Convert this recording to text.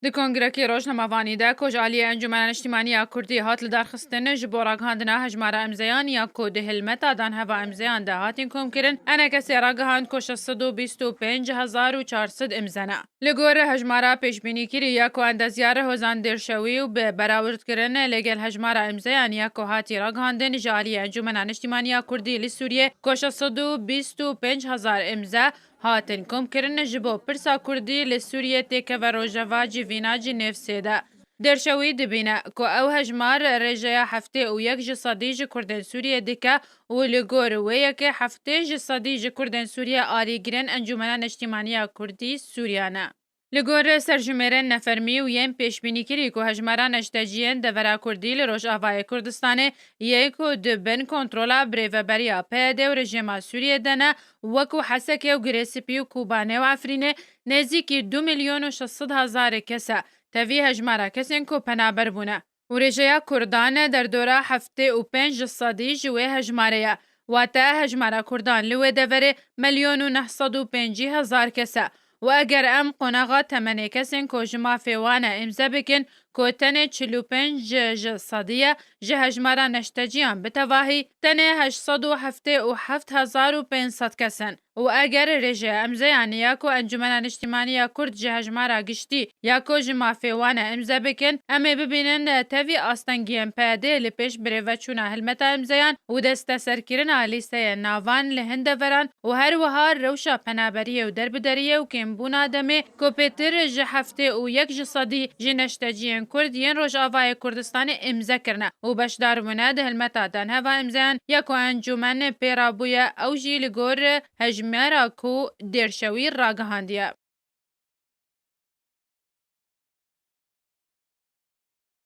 Di kongrekê Rojnamevanî de ku ji aliyê Encûmena Niştîmanî ya Kurdî hat lidarxistin ji bo ragihandina hejmara îmzeyan ya ku di hilmeta dan heva îmzeyan de hatin komkirin NKSê ragihand ku şeş sed û bîst û pênc hezar û çar sed îmze ne. Li gor hejmara pêşbînîkirî ya ku endezyar Hozan Dêrşewî û bi berawird kirin lê gel hejmara îmzeyan ya ku hatî ragihandin ji aliyê Encûmena Niştîmanî ya Kurdî li Sûriyê ku şeş sed û bîst û pênc hezar îmze Hatin komkirin ji bo pirsa Kurdî li Sûriyê têkeve rojeva civîna Cinêvsê de. Dirşe wî dibîne ku ew hejmar rêjeya heftê û yek ji sedî ji Kurdên Sûriyê dike û li gor wê yekê heftê ji sedî ji Kurdên Sûriyê alîgirên Encûmena Neştîmaniya Kurdî Sûriya ne. Li gor serjimêrên nefermî û yên pêşbînîkirî ku hejmara neşteciyên devera Kurdî li Rojavayê Kurdistanê yê ku di bin kontrola birêveberiya PYD û rejêma Sûriyê de ne, wekû Hesekê û Girêsipî û Kobanê û Efrînê nêzîkî du milyon û şeş sed hezarê kes e, tevî hejmara kesên ku penaber bûne. û rêjeya kurdan derdora heftê û pênc sedî ji wê hejmarê ye, wate hejmara kurdan li wê deverê milyon û neh sed û pêncî hezar kes e û eger em qonaxa temenê kesên ku ji mafê wan e îmze bikin ku tenê çil û pênc ji sedî ye ji hejmara neşteciyan bi tevahî tenê heşt sed û heftê û heft hezar û pênc sed kes in. û eger rê ji emzeyanê ya ku Encûmena Niştîmanî ya Kurd ji hejmara giştî ya ku ji mafê wan e îmze bikin, em ê bibînin tevî astengiyên PYD'ê li pêş birêveçûna hilmeta îmzeyan û desteserkirina lîsteyên navan li hin deveran û her wiha rewşa penaberiyê û derbideriyê û kêmbûna demê ku pêtir ji heftê û yek ji sedî ji neşteciyên Kurd yên Rojavayê Kurdistanê îmze kirine û beşdar bûne di hilmeta danheva îmzeyan ya ku encûmen pê re bûye ew jî li gor hejmara ku Dêrşewî ragihandiye.